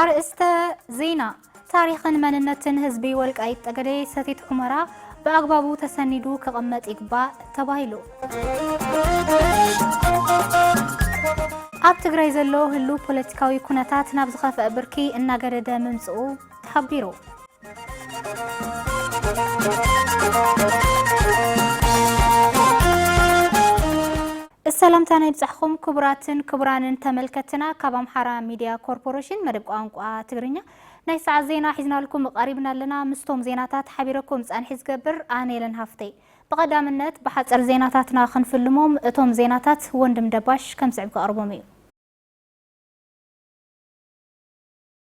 ኣርእስተ ዜና፣ ታሪኽን መንነትን ህዝቢ ወልቃይት ጠገዴ ሰቲት ሑመራ ብኣግባቡ ተሰኒዱ ክቕመጥ ይግባእ ተባሂሉ። ኣብ ትግራይ ዘሎ ህሉው ፖለቲካዊ ኩነታት ናብ ዝኸፍአ ብርኪ እናገደደ ምምፅኡ ተሓቢሩ። ሰላምታና ይብጻሕኹም ክቡራትን ክቡራንን ተመልከትትና ካብ ኣምሓራ ሚድያ ኮርፖረሽን መደብ ቋንቋ ትግርኛ ናይ ሰዓት ዜና ሒዝናልኩም ቐሪብና ኣለና። ምስቶም ዜናታት ሓቢረኩም ጻንሒት ዝገብር ኣነ የለን ሃፍተይ። ብቐዳምነት ብሓጸር ዜናታትና ክንፍልሞም እቶም ዜናታት ወንድም ደባሽ ከምስዕብ ከቕርቦም እዩ።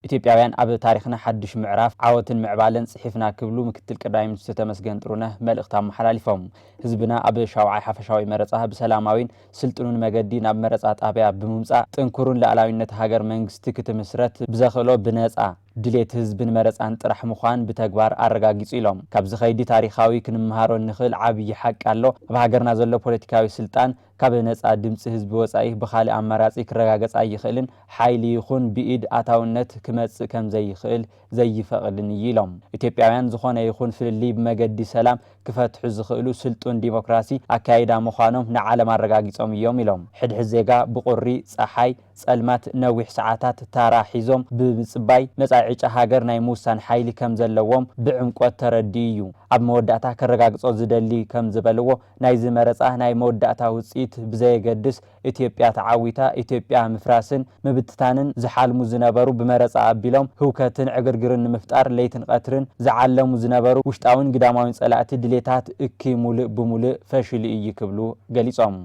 ኢትዮጵያውያን ኣብ ታሪኽና ሓዱሽ ምዕራፍ ዓወትን ምዕባለን ፅሒፍና ክብሉ ምክትል ቀዳማይ ሚኒስትር ተመስገን ጥሩነህ መልእኽቲ ኣመሓላሊፎም። ህዝብና ኣብ ሻውዓይ ሓፈሻዊ መረፃ ብሰላማዊን ስልጡንን መገዲ ናብ መረፃ ጣብያ ብምምፃእ ጥንኩሩን ልኣላዊነት ሃገር መንግስቲ ክትምስረት ብዘኽእሎ ብነፃ ድሌት ህዝብን መረፃን ጥራሕ ምዃን ብተግባር ኣረጋጊፁ ኢሎም። ካብዚ ከይዲ ታሪኻዊ ክንመሃሮ እንኽእል ዓብዪ ሓቂ ኣሎ፣ ኣብ ሃገርና ዘሎ ፖለቲካዊ ስልጣን፣ ካብ ነጻ ድምጺ ህዝቢ ወጻኢ ብኻልእ ኣማራጺ ክረጋገጽ ኣይኽእልን፣ ሓይሊ ይኹን ብኢድ ኣታውነት ክመጽእ ከምዘይኽእል ዘይፈቕድን እዩ ኢሎም። ኢትዮጵያውያን ዝኾነ ይኹን ፍልልይ ብመገዲ ሰላም ክፈትሑ ዝኽእሉ ስልጡን ዲሞክራሲ ኣከያይዳ ምዃኖም ንዓለም ኣረጋጊጾም እዮም ኢሎም። ሕድሕድ ዜጋ ብቑሪ፣ ጸሓይ፣ ጸልማት ነዊሕ ሰዓታት ታራ ሒዞም ብምጽባይ መጻኢ ዕጫ ሃገር ናይ ምውሳን ሓይሊ ከምዘለዎም ብዕምቆት ተረዲኡ እዩ። ኣብ መወዳእታ ከረጋግጾ ዝደሊ ከምዝበልዎ ናይዚ መረፃ ናይ መወዳእታ ውፅኢት ብዘየገድስ ኢትዮጵያ ተዓዊታ ኢትዮጵያ ምፍራስን ምብትታንን ዝሓልሙ ዝነበሩ ብመረፃ ኣቢሎም ህውከትን ዕግርግርን ንምፍጣር ለይትን ቐትርን ዝዓለሙ ዝነበሩ ውሽጣዊን ግዳማዊን ፀላእቲ ድሌታት እክይ ሙልእ ብሙልእ ፈሽሉ ኢዩ ክብሉ ገሊፆም።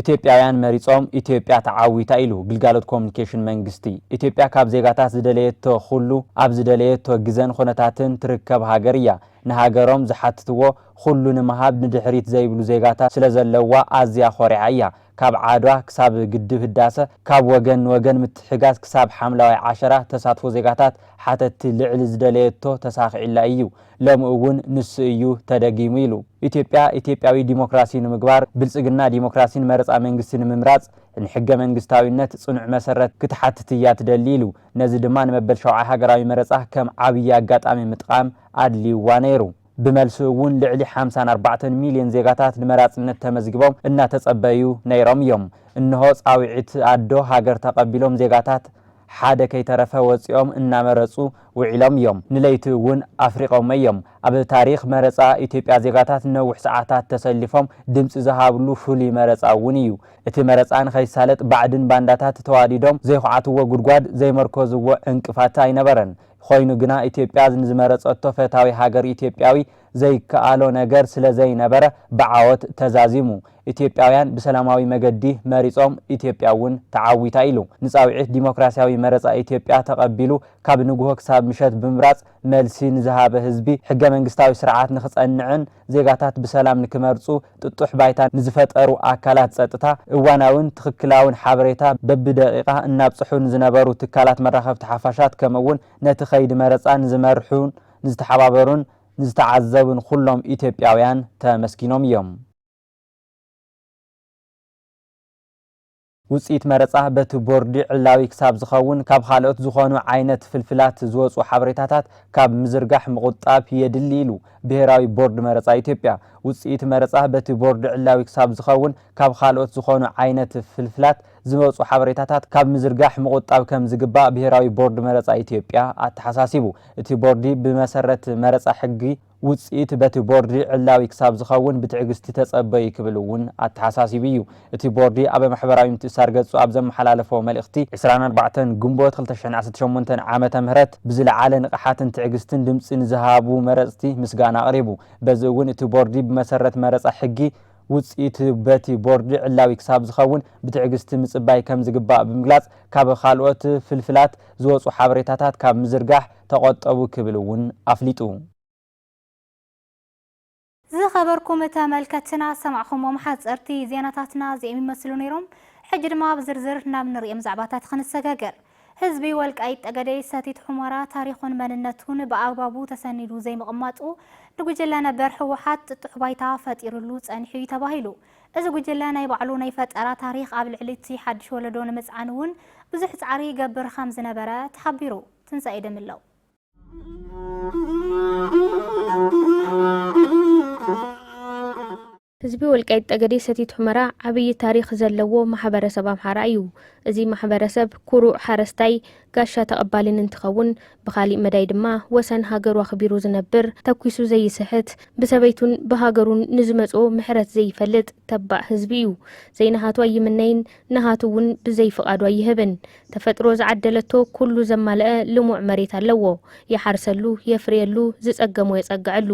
ኢትዮጵያውያን መሪፆም ኢትዮጵያ ተዓዊታ ኢሉ ግልጋሎት ኮሙኒኬሽን መንግስቲ። ኢትዮጵያ ካብ ዜጋታት ዝደለየቶ ኹሉ ኣብ ዝደለየቶ ግዘን ኹነታትን ትርከብ ሃገር እያ። ንሃገሮም ዝሓትትዎ ኹሉ ንምሃብ ንድሕሪት ዘይብሉ ዜጋታት ስለዘለዋ ኣዝያ ኾሪዓ እያ። ካብ ዓድዋ ክሳብ ግድብ ህዳሰ፣ ካብ ወገን ንወገን ምትሕጋዝ ክሳብ ሓምላዋይ ዓሸራ ተሳትፎ ዜጋታት ሓተትቲ ልዕሊ ዝደለየቶ ተሳኺዕላ እዩ። ሎሚ እውን ንሱ እዩ ተደጊሙ ኢሉ። ኢትዮጵያ ኢትዮጵያዊ ዲሞክራሲ ንምግባር፣ ብልፅግና ዲሞክራሲን መረፃ መንግስቲ ንምምራፅ ንሕገ መንግስታዊነት ፅኑዕ መሰረት ክትሓትት እያ ትደሊ ኢሉ። ነዚ ድማ ንመበል ሻውዓይ ሃገራዊ መረፃ ከም ዓብዪ ኣጋጣሚ ምጥቓም ኣድልዩዋ ነይሩ። ብመልሱ እውን ልዕሊ ሓምሳን ኣርባዕተን ሚሊየን ዜጋታት ንመራፅነት ተመዝጊቦም እናተፀበዩ ነይሮም እዮም። እንሆ ፃውዒት ኣዶ ሃገር ተቐቢሎም ዜጋታት ሓደ ከይተረፈ ወጺኦም እናመረጹ ውዒሎም እዮም፣ ንለይቲ እውን ኣፍሪቖሞ እዮም። ኣብ ታሪኽ መረጻ ኢትዮጵያ ዜጋታት ነዊሕ ሰዓታት ተሰሊፎም ድምጺ ዝሃብሉ ፍሉይ መረጻ እውን እዩ። እቲ መረጻ ንኸይሳለጥ ባዕድን ባንዳታት ተዋዲዶም ዘይኹዓትዎ ጉድጓድ፣ ዘይመርኮዝዎ ዕንቅፋት ኣይነበረን። ኾይኑ ግና ኢትዮጵያ ንዝመረጸቶ ፈታዊ ሃገር ኢትዮጵያዊ ዘይከኣሎ ነገር ስለ ዘይነበረ ብዓወት ተዛዚሙ። ኢትዮጵያውያን ብሰላማዊ መገዲ መሪጾም፣ ኢትዮጵያ እውን ተዓዊታ ኢሉ። ንጻውዒት ዲሞክራስያዊ መረጻ ኢትዮጵያ ተቐቢሉ ካብ ንግሆ ክሳብ ምሸት ብምምራጽ መልሲ ንዝሃበ ህዝቢ፣ ሕገ መንግስታዊ ስርዓት ንክጸንዕን ዜጋታት ብሰላም ንክመርጹ ጥጡሕ ባይታ ንዝፈጠሩ ኣካላት ጸጥታ፣ እዋናዊን ትኽክላዊን ሓበሬታ በብደቒቓ እናብጽሑ ንዝነበሩ ትካላት መራኸብቲ ሓፋሻት ከምኡ'ውን ነቲ ከይዲ መረጻ ንዝመርሑን ንዝተሓባበሩን ንዝተዓዘቡን ኹሎም ኢትዮጵያውያን ተመስጊኖም እዮም። ውፅኢት መረፃ በቲ ቦርዲ ዕላዊ ክሳብ ዝኸውን ካብ ኻልኦት ዝኾኑ ዓይነት ፍልፍላት ዝወፁ ሓበሬታታት ካብ ምዝርጋሕ ምቑጣብ የድሊ ኢሉ ብሄራዊ ቦርድ መረፃ ኢትዮጵያ። ውፅኢት መረፃ በቲ ቦርዲ ዕላዊ ክሳብ ዝኸውን ካብ ኻልኦት ዝኾኑ ዓይነት ፍልፍላት ዝመጹ ሓበሬታታት ካብ ምዝርጋሕ ምቑጣብ ከም ዝግባእ ብሄራዊ ቦርድ መረጻ ኢትዮጵያ ኣተሓሳሲቡ። እቲ ቦርዲ ብመሰረት መረጻ ሕጊ ውጽኢት በቲ ቦርዲ ዕላዊ ክሳብ ዝኸውን ብትዕግስቲ ተጸበዩ ክብል እውን ኣተሓሳሲቡ እዩ። እቲ ቦርዲ ኣብ ማሕበራዊ ምትእስሳር ገጹ ኣብ ዘመሓላለፎ መልእኽቲ፣ ዕስራን ኣርባዕተን ግንቦት ክልተ ሽሕን ዓሰርተ ሸሞንተን ዓመተ ምህረት ብዝለዓለ ንቕሓትን ትዕግስትን ድምጺ ንዝሃቡ መረጽቲ ምስጋና ኣቕሪቡ። በዚ እውን እቲ ቦርዲ ብመሰረት መረጻ ሕጊ ውፅኢቱ በቲ ቦርድ ዕላዊ ክሳብ ዝኸውን ብትዕግስቲ ምፅባይ ከምዝግባእ ብምግላፅ፣ ካብ ካልኦት ፍልፍላት ዝወፁ ሓበሬታታት ካብ ምዝርጋሕ ተቖጠቡ ክብል እውን ኣፍሊጡ። ዝኸበርኩም ተመልከትትና ዝሰማዕኹሞም ሓፀርቲ ዜናታትና እዚኦም ይመስሉ ነይሮም። ሕጂ ድማ ብዝርዝር ናብ ንርእዮም ዛዕባታት ክንሰጋገር። ህዝቢ ወልቃይት ጠገዴ ሰቲት ሑመራ ታሪኹን መንነቱን ብኣግባቡ ተሰኒዱ ዘይምቕማጡ ንጉጅለ ነበር ህወሓት ጥጡሕ ባይታ ፈጢሩሉ ፀኒሑ ዩ ተባሂሉ። እዚ ጉጅለ ናይ ባዕሉ ናይ ፈጠራ ታሪኽ ኣብ ልዕሊ እቲ ሓዱሽ ወለዶ ንምፅዓን ውን ብዙሕ ፃዕሪ ይገብር ከምዝነበረ ተሓቢሩ። ትንሳኤ ደምለው። ህዝቢ ወልቃይት ጠገዴ ሰቲት ሑመራ ዓብዪ ታሪኽ ዘለዎ ማሕበረሰብ ኣምሓራ እዩ። እዚ ማሕበረሰብ ኩሩዕ ሓረስታይ፣ ጋሻ ተቐባሊን እንትኸውን ብኻሊእ መዳይ ድማ ወሰን ሃገሩ ኣኽቢሩ ዝነብር፣ ተኲሱ ዘይስሕት፣ ብሰበይቱን ብሃገሩን ንዝመፅኦ ምሕረት ዘይፈልጥ ተባዕ ህዝቢ እዩ። ዘይናሃቱ ኣይምነይን፣ ናሃቱ እውን ብዘይፍቓዱ ኣይህብን። ተፈጥሮ ዝዓደለቶ ኩሉ ዘማለኣ ልሙዕ መሬት ኣለዎ። ይሓርሰሉ፣ የፍርየሉ፣ ዝጸገሞ የጸግዐሉ።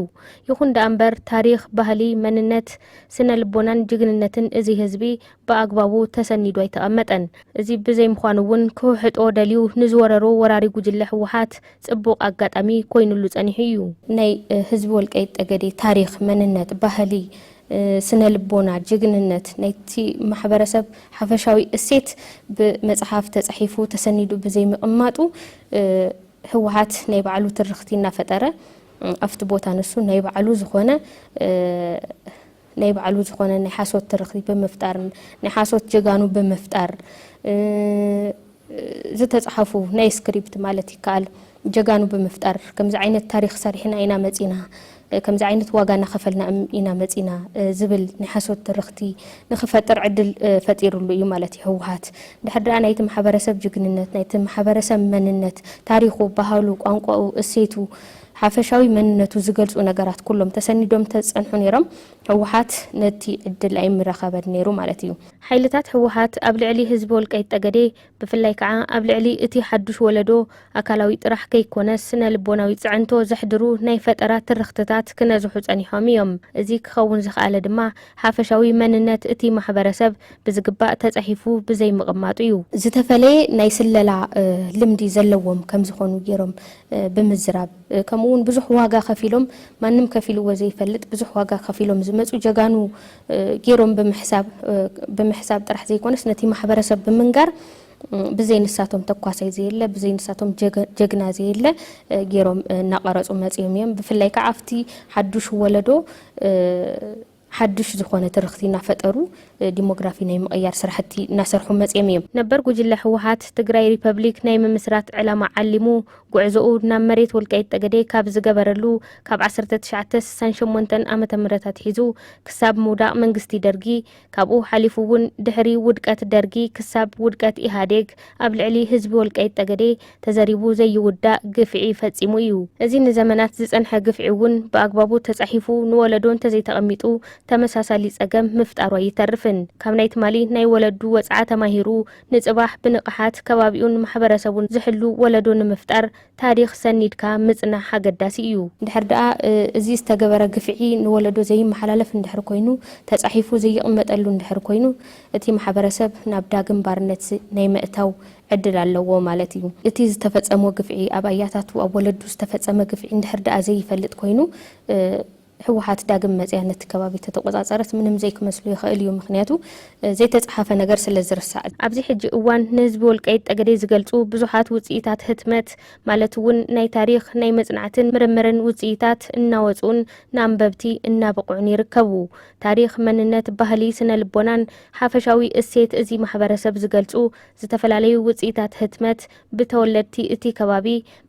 ይኹን ደኣ እምበር ታሪኽ፣ ባህሊ፣ መንነት፣ ስነ ልቦናን ጅግንነትን እዚ ህዝቢ ብኣግባቡ ተሰኒዱ ኣይተቐመጠን። እዚ ብዘይምዃኑ እውን ክውሕጦ ደልዩ ንዝወረሮ ወራሪ ጉጅለ ህወሓት ጽቡቕ ኣጋጣሚ ኮይኑሉ ጸኒሑ እዩ። ናይ ህዝቢ ወልቃይት ጠገዴ ታሪኽ፣ መንነት፣ ባህሊ፣ ስነ ልቦና፣ ጅግንነት፣ ናይቲ ማሕበረሰብ ሓፈሻዊ እሴት ብመፅሓፍ ተፃሒፉ ተሰኒዱ ብዘይምቕማጡ ህወሓት ናይ ባዕሉ ትርኽቲ እናፈጠረ ኣብቲ ቦታ ንሱ ናይ ባዕሉ ዝኾነ ናይ ባዕሉ ዝኾነ ናይ ሓሶት ትርኽቲ ብምፍጣር ናይ ሓሶት ጀጋኑ ብምፍጣር ዝተጽሓፉ ናይ ስክሪፕት ማለት ይከኣል ጀጋኑ ብምፍጣር ከምዚ ዓይነት ታሪኽ ሰሪሕና ኢና መጺና፣ ከምዚ ዓይነት ዋጋ እናኸፈልና ኢና መጺና ዝብል ናይ ሓሶት ትርኽቲ ንኽፈጥር ዕድል ፈጢርሉ እዩ ማለት እዩ ህወሓት። እንድሕር ደኣ ናይቲ ማሕበረሰብ ጅግንነት፣ ናይቲ ማሕበረሰብ መንነት፣ ታሪኹ፣ ባህሉ፣ ቋንቋኡ፣ እሴቱ፣ ሓፈሻዊ መንነቱ ዝገልጹ ነገራት ኩሎም ተሰኒዶም እንተዝጸንሑ ነይሮም ህወሓት ነቲ ዕድል ኣይምረኸበን ነይሩ ማለት እዩ። ሓይልታት ህወሓት ኣብ ልዕሊ ህዝቢ ወልቃይት ጠገዴ ብፍላይ ከዓ ኣብ ልዕሊ እቲ ሓዱሽ ወለዶ ኣካላዊ ጥራሕ ከይኮነስ ስነ ልቦናዊ ፅዕንቶ ዘሕድሩ ናይ ፈጠራ ትርኽትታት ክነዝሑ ፀኒሖም እዮም። እዚ ክኸውን ዝኸኣለ ድማ ሓፈሻዊ መንነት እቲ ማሕበረሰብ ብዝግባእ ተፃሒፉ ብዘይምቕማጡ እዩ። ዝተፈለየ ናይ ስለላ ልምዲ ዘለዎም ከምዝኾኑ ገይሮም ብምዝራብ ከምኡ እውን ብዙሕ ዋጋ ከፊሎም ማንም ከፊልዎ ዘይፈልጥ ብዙሕ ዋጋ ከፊሎም ዝመፁ ጀጋኑ ገይሮም ብምሕሳብ ብምሕሳብ ጥራሕ ዘይኮነስ ነቲ ማሕበረሰብ ብምንጋር ብዘይ ንሳቶም ተኳሳይ ዘየለ ብዘይ ንሳቶም ጀግና ዘየለ ገይሮም እናቐረፁ መፂኦም እዮም። ብፍላይ ከዓ ኣብቲ ሓዱሽ ወለዶ ሓዱሽ ዝኾነ ትርኽቲ እናፈጠሩ ዲሞግራፊ ናይ ምቕያር ስራሕቲ እናሰርሑ መፂኦም እዮም። ነበር ጉጅለ ህወሓት ትግራይ ሪፐብሊክ ናይ ምምስራት ዕላማ ዓሊሙ ጉዕዞኡ ናብ መሬት ወልቃይት ጠገዴ ካብ ዝገበረሉ ካብ ዓሰርተ ትሽዓተ ስሳን ሸሞንተን ዓመተ ምህረት ኣትሒዙ ክሳብ ምውዳቕ መንግስቲ ደርጊ ካብኡ ሓሊፉ እውን ድሕሪ ውድቀት ደርጊ ክሳብ ውድቀት ኢህኣዴግ ኣብ ልዕሊ ህዝቢ ወልቃይት ጠገዴ ተዘሪቡ ዘይውዳእ ግፍዒ ፈፂሙ እዩ። እዚ ንዘመናት ዝፀንሐ ግፍዒ እውን ብኣግባቡ ተፃሒፉ ንወለዶ እንተዘይተቐሚጡ ተመሳሳሊ ፀገም ምፍጣሩ ኣይተርፍን። ካብ ናይ ትማሊ ናይ ወለዱ ወፅዓ ተማሂሩ ንፅባሕ ብንቕሓት ከባቢኡን ማሕበረሰቡን ዝሕሉ ወለዶ ንምፍጣር ታሪኽ ሰኒድካ ምፅናሕ ኣገዳሲ እዩ። እንድሕር ደኣ እዚ ዝተገበረ ግፍዒ ንወለዶ ዘይመሓላለፍ እንድሕር ኮይኑ፣ ተፃሒፉ ዘይቕመጠሉ እንድሕር ኮይኑ፣ እቲ ማሕበረሰብ ናብ ዳግም ባርነት ናይ ምእታው ዕድል ኣለዎ ማለት እዩ። እቲ ዝተፈፀሞ ግፍዒ ኣብ ኣያታቱ፣ ኣብ ወለዱ ዝተፈፀመ ግፍዒ እንድሕር ደኣ ዘይፈልጥ ኮይኑ፣ ህወሓት ዳግም መፅያ ነቲ ከባቢ ተተቆፃፀረት ምንም ዘይክመስሎ ይኸእል እዩ ምኽንያቱ ዘይተፅሓፈ ነገር ስለዝርሳዕ። ኣብዚ ሕጂ እዋን ንህዝቢ ወልቃይት ጠገዴ ዝገልፁ ብዙሓት ውፅኢታት ህትመት ማለት እውን ናይ ታሪኽ፣ ናይ መፅናዕትን ምርምርን ውፅኢታት እናወፅኡን ንኣንበብቲ እናበቕዑን ይርከቡ። ታሪኽ፣ መንነት፣ ባህሊ፣ ስነ ልቦናን ሓፈሻዊ እሴት እዚ ማሕበረሰብ ዝገልፁ ዝተፈላለዩ ውፅኢታት ህትመት ብተወለድቲ እቲ ከባቢ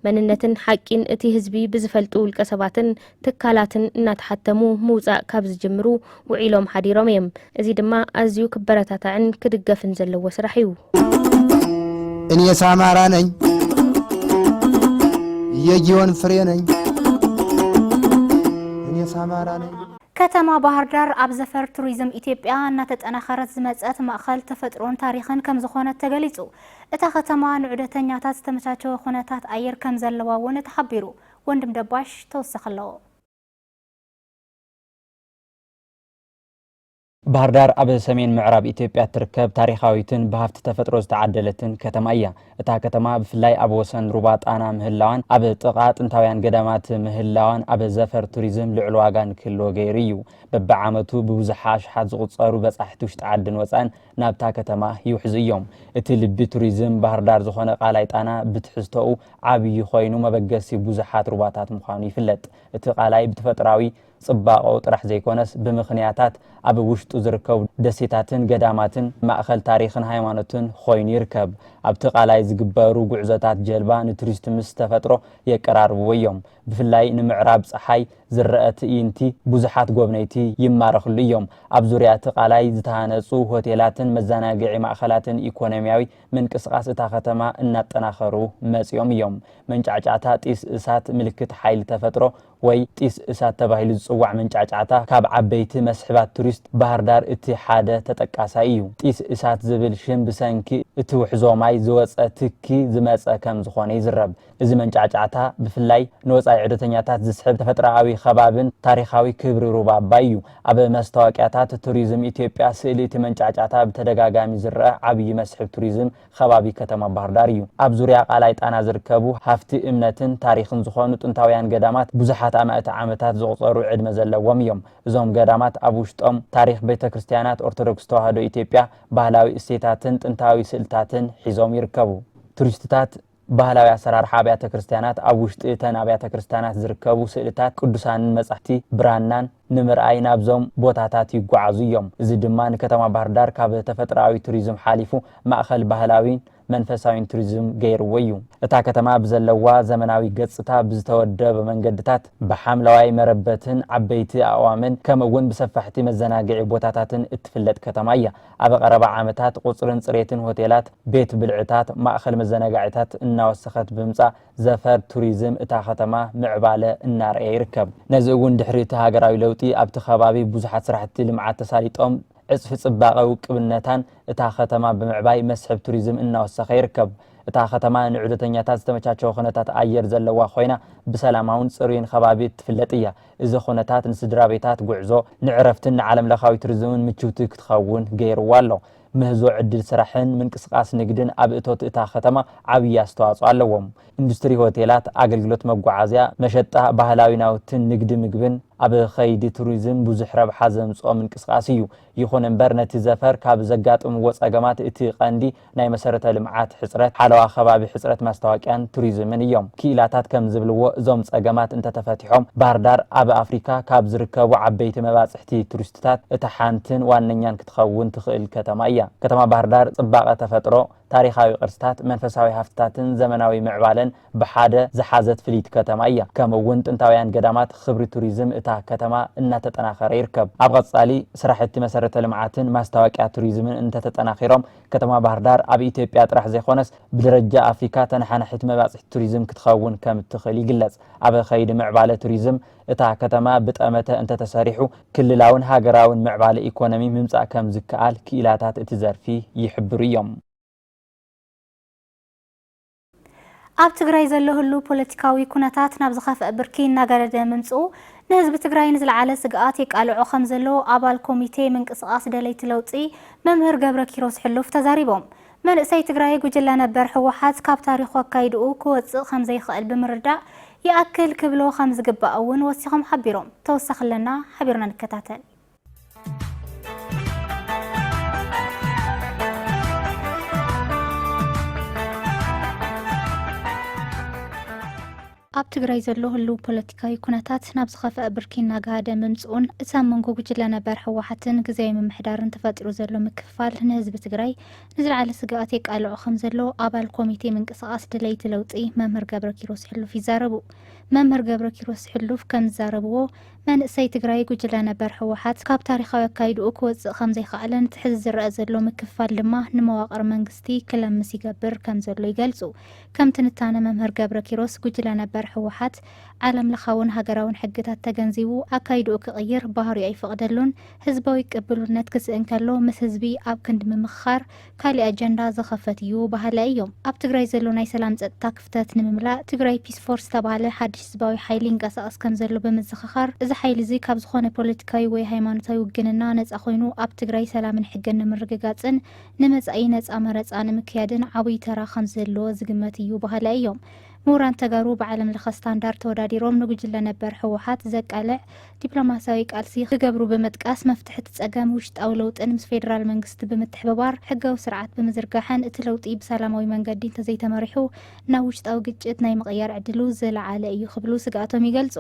መንነትን ሓቂን እቲ ህዝቢ ብዝፈልጡ ውልቀሰባትን ትካላትን እናተሓተሙ ምውፃእ ካብ ዝጅምሩ ውዒሎም ሓዲሮም እዮም። እዚ ድማ ኣዝዩ ክበረታታዕን ክድገፍን ዘለዎ ስራሕ እዩ። እኔስ ኣማራ ነኝ የጊዮን ፍሬ ነኝ እኔስ ኣማራ ነኝ ከተማ ባህር ዳር ኣብ ዘፈር ቱሪዝም ኢትዮጵያ እናተጠናኸረት ዝመፀት ማእኸል ተፈጥሮን ታሪኽን ከምዝኾነት ተገሊፁ። እታ ከተማ ንዑደተኛታት ዝተመቻቸወ ኩነታት ኣየር ከምዘለዋ እውን ተሓቢሩ። ወንድም ደባሽ ተወሳኺ ኣለዎ። ባህርዳር ኣብ ሰሜን ምዕራብ ኢትዮጵያ እትርከብ ታሪኻዊትን ብሃፍቲ ተፈጥሮ ዝተዓደለትን ከተማ እያ። እታ ከተማ ብፍላይ ኣብ ወሰን ሩባ ጣና ምህላዋን ኣብ ጥቓ ጥንታውያን ገዳማት ምህላዋን ኣብ ዘፈር ቱሪዝም ልዑል ዋጋ ንክህልዎ ገይሩ እዩ። በብዓመቱ ብብዙሓ ኣሽሓት ዝቑፀሩ በፃሕቲ ውሽጢ ዓድን ወፃእን ናብታ ከተማ ይውሕዙ እዮም። እቲ ልቢ ቱሪዝም ባህርዳር ዝኾነ ቃላይ ጣና ብትሕዝቶኡ ዓብዪ ኮይኑ መበገሲ ብዙሓት ሩባታት ምዃኑ ይፍለጥ። እቲ ቃላይ ብተፈጥራዊ ፅባቐኡ ጥራሕ ዘይኮነስ ብምኽንያታት ኣብ ውሽጡ ዝርከቡ ደሴታትን ገዳማትን ማእኸል ታሪኽን ሃይማኖትን ኾይኑ ይርከብ። ኣብቲ ቃላይ ዝግበሩ ጉዕዞታት ጀልባ ንቱሪስት ምስ ተፈጥሮ የቀራርብዎ እዮም። ብፍላይ ንምዕራብ ፀሓይ ዝረኣ ትእይንቲ ብዙሓት ጎብነይቲ ይማረኽሉ እዮም። ኣብ ዙርያ እቲ ቃላይ ዝተሃነፁ ሆቴላትን መዘናግዒ ማእኸላትን ኢኮኖሚያዊ ምንቅስቓስ እታ ከተማ እናጠናኸሩ መፂኦም እዮም። መንጫዕጫዕታ ጢስ እሳት ምልክት ሓይሊ ተፈጥሮ ወይ ጢስ እሳት ተባሂሉ ዝፅዋዕ መንጫዕጫዕታ ካብ ዓበይቲ መስሕባት ቱሪስት ባህርዳር እቲ ሓደ ተጠቃሳይ እዩ። ጢስ እሳት ዝብል ሽም ብሰንኪ እቲ ውሕዞ ማይ ዝወፀ ትኪ ዝመፀ ከምዝኾነ ይዝረብ። እዚ መንጫዕጫዕታ ብፍላይ ንወጻኢ ዑደተኛታት ዝስሕብ ተፈጥሮኣዊ ኸባብን ታሪኻዊ ክብሪ ሩባ ኣባይ እዩ። ኣብ መስታወቅያታት ቱሪዝም ኢትዮጵያ ስእሊ እቲ መንጫዕጫዕታ ብተደጋጋሚ ዝረኣ ዓብዪ መስሕብ ቱሪዝም ኸባቢ ከተማ ባህርዳር እዩ። ኣብ ዙርያ ቃላይ ጣና ዝርከቡ ሃፍቲ እምነትን ታሪኽን ዝኾኑ ጥንታውያን ገዳማት ብዙሓት ኣማእት ዓመታት ዘቑፀሩ ዕድመ ዘለዎም እዮም። እዞም ገዳማት ኣብ ውሽጦም ታሪኽ ቤተክርስትያናት ኦርቶዶክስ ተዋህዶ ኢትዮጵያ፣ ባህላዊ እሴታትን ጥንታዊ ስእልታትን ሒዞም ይርከቡ። ቱሪስትታት ባህላዊ ኣሰራርሓ ኣብያተ ክርስቲያናት፣ ኣብ ውሽጢ እተን ኣብያተ ክርስቲያናት ዝርከቡ ስእልታት ቅዱሳንን መጻሕፍቲ ብራናን ንምርኣይ ናብዞም ቦታታት ይጓዓዙ እዮም። እዚ ድማ ንከተማ ባህርዳር ካብ ተፈጥሮኣዊ ቱሪዝም ሓሊፉ ማእኸል ባህላዊን መንፈሳዊን ቱሪዝም ገይርዎ እዩ። እታ ከተማ ብዘለዋ ዘመናዊ ገፅታ ብዝተወደበ መንገድታት፣ ብሓምለዋይ መረበትን ዓበይቲ ኣእዋምን ከምኡ'ውን ብሰፋሕቲ መዘናግዒ ቦታታትን እትፍለጥ ከተማ እያ። ኣብ ቐረባ ዓመታት ቑፅርን ፅሬትን ሆቴላት፣ ቤት ብልዕታት፣ ማእኸል መዘናጋዒታት እናወሰኸት ብምምፃእ ዘፈር ቱሪዝም እታ ከተማ ምዕባለ እናርኣየ ይርከብ። ነዚ እውን ድሕሪ እቲ ሃገራዊ ለውጢ ኣብቲ ከባቢ ብዙሓት ስራሕቲ ልምዓት ተሳሊጦም ዕፅፊ ፅባቐ ውቅብነታን እታ ከተማ ብምዕባይ መስሕብ ቱሪዝም እናወሰኸ ይርከብ። እታ ከተማ ንዑደተኛታት ዝተመቻቸወ ኩነታት ኣየር ዘለዋ ኾይና ብሰላማውን ፅሩይን ኸባቢ እትፍለጥ እያ። እዚ ኹነታት ንስድራቤታት ጉዕዞ፣ ንዕረፍትን ንዓለምለኻዊ ቱሪዝምን ምችውቲ ክትኸውን ገይሩዋ ኣሎ። ምህዞ ዕድል ስራሕን ምንቅስቓስ ንግድን ኣብ እቶት እታ ከተማ ዓብዪ ኣስተዋፅኦ ኣለዎም። ኢንዱስትሪ ሆቴላት፣ ኣገልግሎት መጓዓዝያ፣ መሸጣ ባህላዊ ናውትን ንግዲ ምግብን ኣብ ኸይዲ ቱሪዝም ብዙሕ ረብሓ ዘምፅኦ ምንቅስቓስ እዩ። ይኹን እምበር ነቲ ዘፈር ካብ ዘጋጥምዎ ፀገማት እቲ ቀንዲ ናይ መሰረተ ልምዓት ሕፅረት፣ ሓለዋ ከባቢ ሕፅረት ማስታወቂያን ቱሪዝምን እዮም። ክኢላታት ከም ዝብልዎ እዞም ፀገማት እንተተፈቲሖም ባህርዳር ኣብ ኣፍሪካ ካብ ዝርከቡ ዓበይቲ መባፅሕቲ ቱሪስትታት እታ ሓንትን ዋነኛን ክትኸውን ትኽእል ከተማ እያ። ከተማ ባህርዳር ፅባቐ ተፈጥሮ፣ ታሪኻዊ ቅርስታት፣ መንፈሳዊ ሃፍትታትን ዘመናዊ ምዕባለን ብሓደ ዝሓዘት ፍልይቲ ከተማ እያ። ከምኡ እውን ጥንታውያን ገዳማት ኽብሪ ቱሪዝም እታ ከተማ እናተጠናኸረ ይርከብ። ኣብ ቐፃሊ ስራሕቲ መሰረተ ልምዓትን ማስታወቂያ ቱሪዝምን እንተተጠናኺሮም ከተማ ባህርዳር ኣብ ኢትዮጵያ ጥራሕ ዘይኾነስ ብደረጃ ኣፍሪካ ተነሓናሒት መባፅሒት ቱሪዝም ክትኸውን ከምትኽእል ይግለፅ። ኣብ ኸይዲ ምዕባለ ቱሪዝም እታ ከተማ ብጠመተ እንተተሰሪሑ ክልላውን ሃገራውን ምዕባለ ኢኮኖሚ ምምፃእ ከምዝከኣል ክኢላታት እቲ ዘርፊ ይሕብሩ እዮም። ኣብ ትግራይ ዘሎ ህሉው ፖለቲካዊ ኩነታት ናብ ዝኸፍኣ ብርኪ እናገደደ ምምፅኡ ንህዝቢ ትግራይ ንዝለዓለ ስግኣት የቃልዖ ከምዘሎ ኣባል ኮሚቴ ምንቅስቓስ ደለይቲ ለውጢ መምህር ገብረኪሮስ ሕሉፍ ተዛሪቦም። መንእሰይ ትግራይ ጉጅለ ነበር ህወሓት ካብ ታሪኹ ኣካይድኡ ክወፅእ ከምዘይኽእል ብምርዳእ ይኣክል ክብሎ ከምዝግባእ እውን ወሲኾም ሓቢሮም። ተወሳኺ ኣለና ሓቢርና ንከታተል። ኣብ ትግራይ ዘሎ ህልው ፖለቲካዊ ኩነታት ናብ ዝኸፍአ ብርኪ እናጋሃደ ምምፅኡን እቲ ኣብ መንጎ ጉጅለ ነበር ህወሓትን ግዜያዊ ምምሕዳርን ተፈጢሩ ዘሎ ምክፍፋል ንህዝቢ ትግራይ ንዝለዓለ ስግኣት የቃልዖ ከም ዘሎ ኣባል ኮሚቴ ምንቅስቓስ ድለይቲ ለውጢ መምህር ገብረ ኪሮስ ሕሉፍ ይዛረቡ። መምህር ገብረ ኪሮስ ሕሉፍ ከም ዝዛረብዎ መንእሰይ ትግራይ ጉጅለ ነበር ህወሓት ካብ ታሪኻዊ ኣካይድኡ ክወፅእ ከምዘይኸኣለን እቲ ሕዚ ዝረኣ ዘሎ ምክፍፋል ድማ ንመዋቕር መንግስቲ ክለምስ ይገብር ከምዘሎ ይገልፁ። ከም ትንታነ መምህር ገብረኪሮስ ጉጅለ ነበር ህወሓት ዓለም ለኻውን ሃገራውን ሕግታት ተገንዚቡ ኣካይድኡ ክቕይር ባህሪኡ ኣይፈቕደሉን። ህዝባዊ ቅብሉነት ክስእን ከሎ ምስ ህዝቢ ኣብ ክንዲ ምምኽኻር ካሊእ ኣጀንዳ ዝኸፈት እዩ በሃላይ እዮም። ኣብ ትግራይ ዘሎ ናይ ሰላም ፀጥታ ክፍተት ንምምላእ ትግራይ ፒስ ፎርስ ዝተብሃለ ሓድሽ ህዝባዊ ሓይሊ ይንቀሳቐስ ከምዘሎ ብምዝኽኻር፣ እዚ ሓይሊ እዚ ካብ ዝኾነ ፖለቲካዊ ወይ ሃይማኖታዊ ውግንና ነፃ ኮይኑ ኣብ ትግራይ ሰላምን ሕግን ንምርግጋፅን ንመፃኢ ነፃ መረፃ ንምክያድን ዓብይ ተራ ከምዘለዎ ዝግመት እዩ በሃላይ እዮም። ምሁራን ተጋሩ ብዓለም ለኸ ስታንዳርድ ተወዳዲሮም ንጉጅለ ነበር ህወሓት ዘቃልዕ ዲፕሎማሲያዊ ቃልሲ ክገብሩ ብምጥቃስ መፍትሒ እቲ ፀገም ውሽጣዊ ለውጥን ምስ ፌዴራል መንግስቲ ብምትሕብባር ሕጋዊ ስርዓት ብምዝርጋሕን እቲ ለውጢ ብሰላማዊ መንገዲ እንተዘይተመሪሑ ናብ ውሽጣዊ ግጭት ናይ ምቕያር ዕድሉ ዝለዓለ እዩ ክብሉ ስግኣቶም ይገልፁ።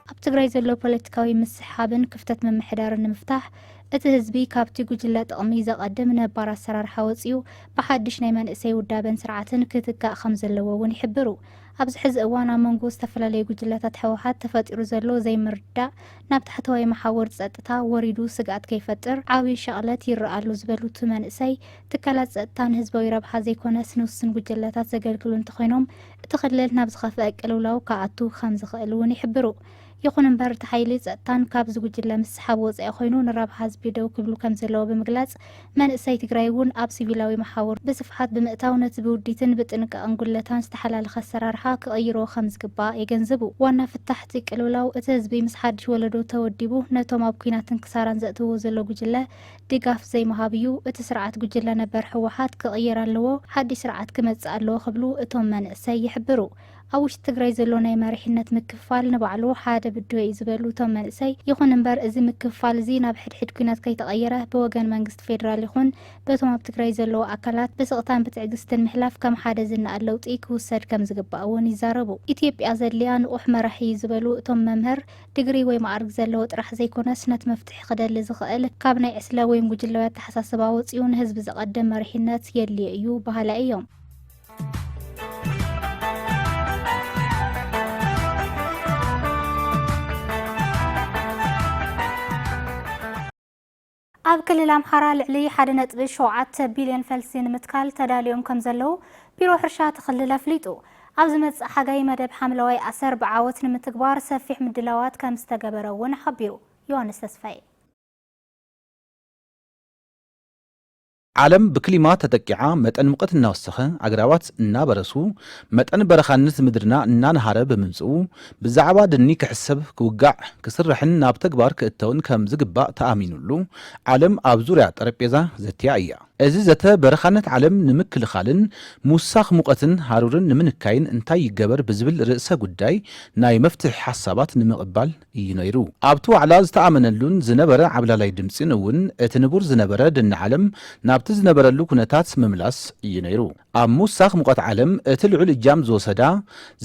ኣብ ትግራይ ዘሎ ፖለቲካዊ ምስሕሓብን ክፍተት ምምሕዳርን ንምፍታሕ እቲ ህዝቢ ካብቲ ጉጅለ ጥቕሚ ዘቐድም ነባር ኣሰራርሓ ወፂኡ ብሓድሽ ናይ መንእሰይ ውዳበን ስርዓትን ክትካእ ከምዘለዎ እውን ይሕብሩ። ኣብዚ ሕዚ እዋን ኣብ መንጎ ዝተፈላለዩ ጉጅለታት ህወሓት ተፈጢሩ ዘሎ ዘይምርድዳእ ናብ ታሕተዋይ መሓውር ፀጥታ ወሪዱ ስግኣት ከይፈጥር ዓብዪ ሸቕለት ይረኣ ኣሎ ዝበሉ እቲ መንእሰይ፣ ትካላት ፀጥታ ንህዝባዊ ረብሓ ዘይኮነስ ንውሱን ጉጅለታት ዘገልግሉ እንተኾይኖም እቲ ክልል ናብ ዝኸፍአ ቅልውላው ክኣቱ ከም ዝኽእል እውን ይሕብሩ። ይኹን እምበር እቲ ሓይሊ ፀጥታን ካብዚ ጉጅለ ምስሓብ ወፃኢ ኮይኑ ንረብሓ ህዝቢ ደው ክብሉ ከም ዘለዎ ብምግላፅ መንእሰይ ትግራይ እውን ኣብ ሲቪላዊ መሓውር ብስፍሓት ብምእታው ነቲ ብውዲትን ብጥንቃቐን ጉድለታን ዝተሓላለኸ ኣሰራርሓ ክቕይሮ ከም ዝግባእ የገንዝቡ። ዋና ፍታሕ እቲ ቅልውላው እቲ ህዝቢ ምስ ሓድሽ ወለዶ ተወዲቡ ነቶም ኣብ ኲናትን ክሳራን ዘእትውዎ ዘሎ ጉጅለ ድጋፍ ዘይምሃብ እዩ እቲ ስርዓት ጉጅለ ነበር ህወሓት ክቕየር ኣለዎ ሓዱሽ ስርዓት ክመፅእ ኣለዎ ክብሉ እቶም መንእሰይ ይሕብሩ። ኣብ ውሽጢ ትግራይ ዘሎ ናይ መሪሕነት ምክፍፋል ንባዕሉ ሓደ ብድሆ እዩ ዝበሉ እቶም መንእሰይ ይኹን እምበር እዚ ምክፍፋል እዚ ናብ ሕድሕድ ኲናት ከይተቐየረ ብወገን መንግስቲ ፌዴራል ይኹን በቶም ኣብ ትግራይ ዘለዉ ኣካላት ብስቕታን ብትዕግስትን ምሕላፍ ከም ሓደ ዝነኣድ ለውጢ ክውሰድ ከምዝግባእ እውን ይዛረቡ። ኢትዮጵያ ዘድልያ ንቑሕ መራሒ እዩ ዝበሉ እቶም መምህር፣ ድግሪ ወይ መኣርግ ዘለዎ ጥራሕ ዘይኮነስ ነቲ መፍትሒ ክደሊ ዝኸእል ካብ ናይ ዕስለ ወይም ጉጅለዊ ኣተሓሳስባ ወጺኡ ንህዝቢ ዘቐድም መሪሕነት የድልዮ እዩ በሃላይ እዮም። ኣብ ክልል ኣምሓራ ልዕሊ ሓደ ነጥቢ ሸውዓተ ቢልዮን ፈልሲ ንምትካል ተዳልዮም ከም ዘለዉ ቢሮ ሕርሻ እቲ ክልል ኣፍሊጡ። ኣብ ዝመጽእ ሓጋይ መደብ ሓምለዋይ ኣሰር ብዓወት ንምትግባር ሰፊሕ ምድላዋት ከም ዝተገበረ እውን ሓቢሩ። ዮሃንስ ተስፋዬ። ዓለም ብክሊማ ተጠቂዓ መጠን ሙቐት እናወሰኸ፣ ኣግራባት እናበረሱ፣ መጠን በረኻነት ምድርና እናነሃረ ብምምፅኡ ብዛዕባ ደኒ ክሕሰብ፣ ክውጋዕ፣ ክስራሕን ናብ ተግባር ክእተውን ከም ዝግባእ ተኣሚኑሉ ዓለም ኣብ ዙርያ ጠረጴዛ ዘትያ እያ። እዚ ዘተ በረኻነት ዓለም ንምክልኻልን ምውሳኽ ሙቐትን ሃሩርን ንምንካይን እንታይ ይገበር ብዝብል ርእሰ ጉዳይ ናይ መፍትሒ ሓሳባት ንምቕባል እዩ ነይሩ። ኣብቲ ዋዕላ ዝተኣመነሉን ዝነበረ ዓብላላይ ድምጺን እውን እቲ ንቡር ዝነበረ ድኒ ዓለም ናብቲ ዝነበረሉ ኩነታት ምምላስ እዩ ነይሩ። ኣብ ምውሳኽ ሙቐት ዓለም እቲ ልዑል እጃም ዝወሰዳ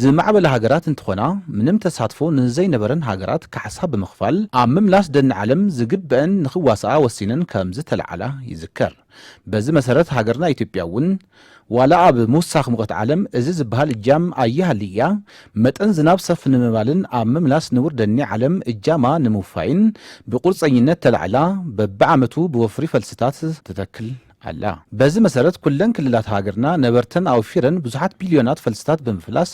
ዝማዕበላ ሃገራት እንትኾና ምንም ተሳትፎ ንዘይነበረን ሃገራት ካሕሳ ብምኽፋል ኣብ ምምላስ ደኒ ዓለም ዝግበእን ንኽዋስኣ ወሲነን ከምዝተለዓላ ይዝከር። በዚ መሰረት ሃገርና ኢትዮጵያ እውን ዋላ ኣብ ምውሳኽ ሙቐት ዓለም እዚ ዝበሃል እጃም ኣይሃሊ ኢያ መጠን ዝናብ ሰፍ ንምባልን ኣብ ምምላስ ንቡር ደኒ ዓለም እጃማ ንምውፋይን ብቑርፀኝነት ተላዒላ በቢዓመቱ ብወፍሪ ፈልስታት ትተክል ኣላ። በዚ መሰረት ኩለን ክልላት ሃገርና ነበርተን ኣውፊረን ብዙሓት ቢልዮናት ፈልስታት ብምፍላስ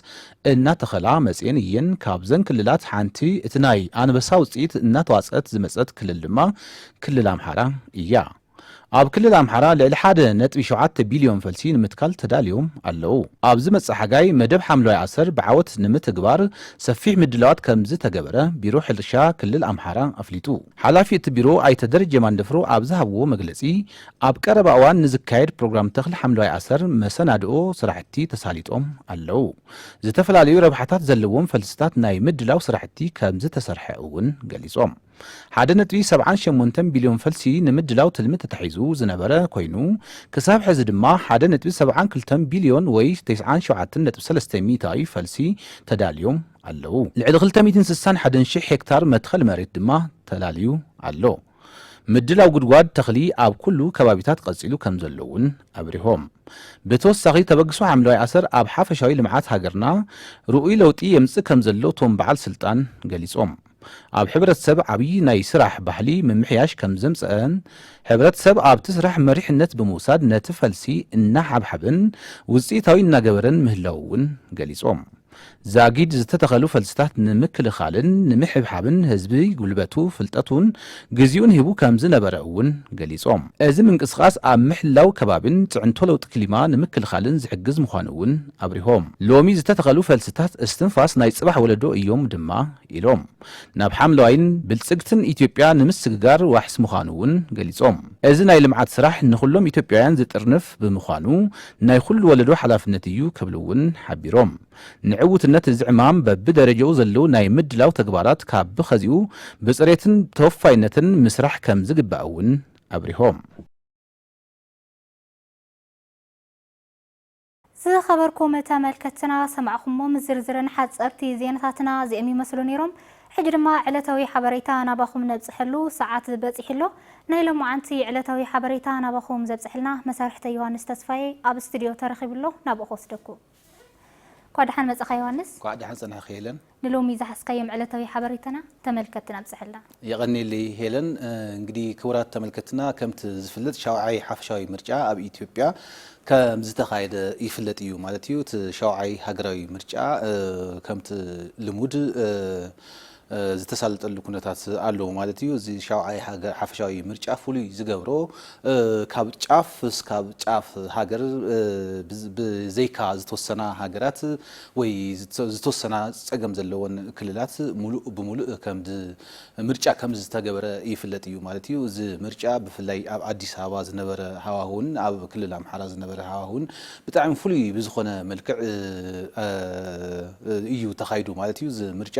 እናተኸላ መፂኤን እየን። ካብዘን ክልላት ሓንቲ እቲ ናይ ኣንበሳ ውፅኢት እናተዋፅአት ዝመፀት ክልል ድማ ክልል ኣምሓራ ኢያ። ኣብ ክልል ኣምሓራ ልዕሊ ሓደ ነጥቢ ሸውዓተ ቢልዮን ፈልሲ ንምትካል ተዳልዮም ኣለው። ኣብ ዝመጽእ ሓጋይ መደብ ሓምለዋይ ኣሰር ብዓወት ንምትግባር ሰፊሕ ምድላዋት ከምዝተገበረ ቢሮ ሕርሻ ክልል ኣምሓራ ኣፍሊጡ። ሓላፊ እቲ ቢሮ ኣይተ ደረጀ ማንደፍሮ ኣብ ዝሃብዎ መግለጺ፣ ኣብ ቀረባ እዋን ንዝካየድ ፕሮግራም ተኽሊ ሓምለዋይ ኣሰር መሰናድኦ ስራሕቲ ተሳሊጦም ኣለው። ዝተፈላለዩ ረብሓታት ዘለዎም ፈልስታት ናይ ምድላው ስራሕቲ ከምዝተሰርሐ እውን ገሊጾም። ሓደ ነጥቢ ሰብዓን ሸሞንተን ቢልዮን ፈልሲ ንምድላው ትልሚ ተታሒዙ ዝነበረ ኮይኑ፣ ክሳብ ሕዚ ድማ ሓደ ነጥቢ ሰብዓን ክልተን ቢልዮን ወይ ተስዓን ሸውዓተን ነጥቢ ሰለስተ ሚእታዊ ፈልሲ ተዳልዮም ኣለዉ። ልዕሊ ክልተ ሚእትን ስሳን ሓደን ሽሕ ሄክታር መትኸል መሬት ድማ ተላልዩ ኣሎ። ምድላው ጉድጓድ ተኽሊ ኣብ ኩሉ ከባቢታት ቀጺሉ ከምዘሎ እውን ኣብሪሆም። ብተወሳኺ ተበግሶ ሓምለዋይ ኣሰር ኣብ ሓፈሻዊ ልምዓት ሃገርና ርኡይ ለውጢ የምጽእ ከምዘሎ እቶም በዓል ስልጣን ገሊጾም። ኣብ ሕብረተሰብ ዓብዪ ናይ ስራሕ ባህሊ ምምሕያሽ ከምዘምፀኣን ሕብረተሰብ ኣብቲ ስራሕ መሪሕነት ብምውሳድ ነቲ ፈልሲ እናሓብሓበን ውፅኢታዊ እናገበረን ምህላዉ እውን ገሊፆም። ዛጊድ ዝተተኸሉ ፈልስታት ንምክልኻልን ንምሕብሓብን ህዝቢ ጉልበቱ፣ ፍልጠቱን ግዚኡን ሂቡ ከም ዝነበረ እውን ገሊፆም። እዚ ምንቅስቓስ ኣብ ምሕላው ከባቢን ፅዕንቶ ለውጢ ክሊማ ንምክልኻልን ዝሕግዝ ምዃኑ እውን ኣብሪሆም። ሎሚ ዝተተኸሉ ፈልስታት እስትንፋስ ናይ ፅባሕ ወለዶ እዮም ድማ ኢሎም። ናብ ሓምለዋይን ብልፅግትን ኢትዮጵያ ንምስግጋር ዋሕስ ምዃኑ እውን ገሊፆም። እዚ ናይ ልምዓት ስራሕ ንኹሎም ኢትዮጵያውያን ዝጥርንፍ ብምዃኑ ናይ ኹሉ ወለዶ ሓላፍነት እዩ ክብሉ እውን ሓቢሮም። ንዕውትነት እዚ ዕማም በብደረጃኡ ዘለዉ ናይ ምድላው ተግባራት ካብ ብኸዚኡ ብፅሬትን ተወፋይነትን ምስራሕ ከምዝግባእ እውን ኣብሪሆም። ዝኸበርኩም ተመልከትትና ሰማዕኹሞም ዝርዝርን ሓፀርቲ ዜናታትና እዚኦም ይመስሉ ነይሮም። ሕጂ ድማ ዕለታዊ ሓበሬታ ናባኹም ነብፅሐሉ ሰዓት በፂሑ ኣሎ። ናይ ሎምዓንቲ ዕለታዊ ሓበሬታ ናባኹም ዘብፅሐልና መሳርሕተይ ዮሃንስ ተስፋየ ኣብ ስቱድዮ ተረኺቡ ኣሎ ናብኡ ክወስደኩም። እንኳዕ ደሓን መፃኻ ዮሃንስ። እንኳዕ ደሓን ፀናሕኺ ሄለን። ንሎሚ ዝሓዝካዮም ዕለታዊ ሓበሬታና ተመልከትትና ኣብፀሐልና። የቐኔለይ ሄለን። እንግዲ ክቡራት ተመልከትና ከምቲ ዝፍለጥ ሻውዓይ ሓፈሻዊ ምርጫ ኣብ ኢትዮጵያ ከምዝተኻየደ ይፍለጥ እዩ ማለት እዩ። እቲ ሻውዓይ ሃገራዊ ምርጫ ከምቲ ልሙድ ዝተሳለጠሉ ኩነታት ኣሎ ማለት እዩ። እዚ ሻውዓይ ሓፈሻዊ ምርጫ ፍሉይ ዝገብሮ ካብ ጫፍ እስካብ ጫፍ ሃገር ብዘይካ ዝተወሰና ሃገራት ወይ ዝተወሰና ፀገም ዘለወን ክልላት ሙሉእ ብሙሉእ ምርጫ ከምዝተገበረ ይፍለጥ እዩ ማለት እዩ። እዚ ምርጫ ብፍላይ ኣብ ኣዲስ ኣበባ ዝነበረ ሃዋህውን ኣብ ክልል ኣምሓራ ዝነበረ ሃዋህውን ብጣዕሚ ፍሉይ ብዝኾነ መልክዕ እዩ ተኻይዱ ማለት እዩ እዚ ምርጫ።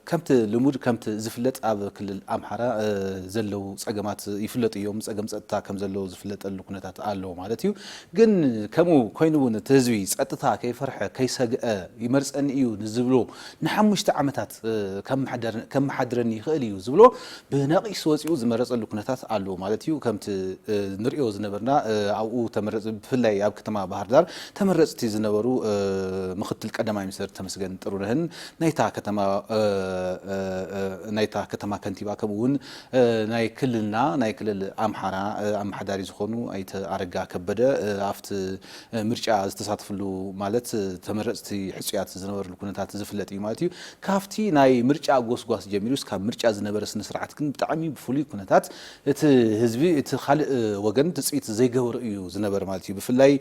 ከምቲ ልሙድ ከምቲ ዝፍለጥ ኣብ ክልል ኣምሓራ ዘለዉ ፀገማት ይፍለጡ እዮም። ፀገም ፀጥታ ከምዘሎ ዝፍለጠሉ ኩነታት ኣሎ ማለት እዩ። ግን ከምኡ ኮይኑ እውን እቲ ህዝቢ ፀጥታ ከይፈርሐ ከይሰግኣ ይመርፀኒ እዩ ንዝብሎ ንሓሙሽተ ዓመታት ከመሓድረኒ ይኽእል እዩ ዝብሎ ብነቂስ ወጺኡ ዝመረጸሉ ኩነታት ኣሎ ማለት እዩ። ከምቲ ንርእዮ ዝነበርና ኣብኡ ተመረጽቲ ብፍላይ ኣብ ከተማ ባህርዳር ተመረጽቲ ዝነበሩ ምኽትል ቀዳማይ ሚኒስተር ተመስገን ጥሩነህን ናይታ ከተማ ናይታ ከተማ ከንቲባ ከምኡ እውን ናይ ክልልና ናይ ክልል ኣምሓራ ኣመሓዳሪ ዝኾኑ ኣይተ ኣረጋ ከበደ ኣብቲ ምርጫ ዝተሳተፍሉ ማለት ተመረፅቲ ሕፁያት ዝነበርሉ ኩነታት ዝፍለጥ እዩ ማለት እዩ። ካፍቲ ናይ ምርጫ ጎስጓስ ጀሚሩ እስካብ ምርጫ ዝነበረ ስነስርዓት ግን ብጣዕሚ ብፍሉይ ኩነታት እቲ ህዝቢ እቲ ካልእ ወገን ትፅቢት ዘይገበሮ እዩ ዝነበረ ማለት እዩ። ብፍላይ